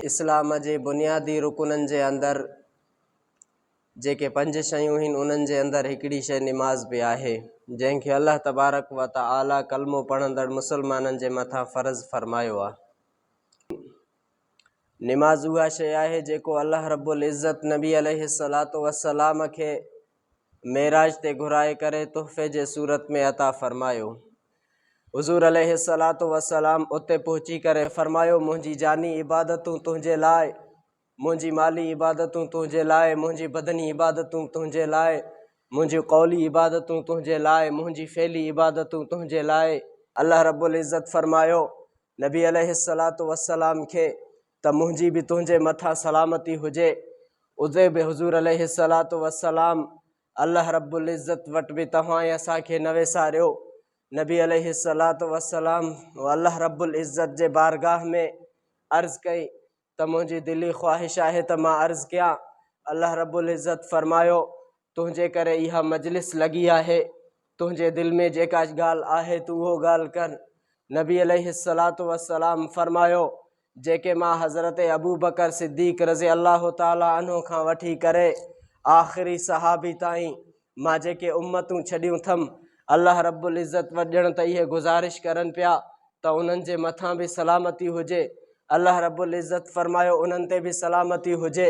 اسلام جي بنيادي رڪنن جي اندر جيڪي پنج شيون هين انهن جي اندر هڪڙي شيء نماز به آهي جنهن کي الله تبارڪ و تعالي ڪلمو پڙهندڙ مسلمانن جي مٿان فرض فرمايو آهي. نماز اها شيء آهي جيڪو الله رب العزت نبي عليه الصلوة والسلام کي معراج تي گهرائي ڪري تحفي جي صورت ۾ عطا فرمايو. حضور عليه الصلاة والسلام اتي پهچي ڪري فرمايو منهنجي جاني عبادتون تنهنجي لاء منهنجي مالي عبادتون تنهنجي لاء منهنجي بدني عبادتون تنهنجي لاء منهنجي قولي عبادتون تنهنجي لاء منهنجي فعلي عبادتون تنهنجي لاء الله رب العزت فرمايو نبي عليه الصلاة والسلام کي ته منهنجي به تنهنجي مٿان سلامتي هجي اتي به حضور عليه الصلاة والسلام الله رب العزت وٽ به توهان ۽ اسان کي نه وساريو نبي عليه الصلاة والسلام الله رب العزت جي بارگاهه ۾ عرض ڪئي ته منهنجي دلي خواهش آهي ته مان عرض ڪيان الله رب العزت فرمايو تنهنجي ڪري اها مجلس لڳي آهي تنهنجي دل ۾ جيڪا ڳالهه آهي تون اهو ڳالهه ڪر نبي عليه الصلاة والسلام فرمايو جيڪي مان حضرت ابوبڪر صديق رضي الله تعالٰي عنه کان وٺي ڪري آخري صحابي تائين مان جيڪي امتون ڇڏيون اٿم الله رب العزت وٽ ڄڻ ته اهي گذارش ڪرن پيا ته انهن جي مٿان به سلامتي هجي الله رب العزت فرمايو انهن تي به سلامتي هجي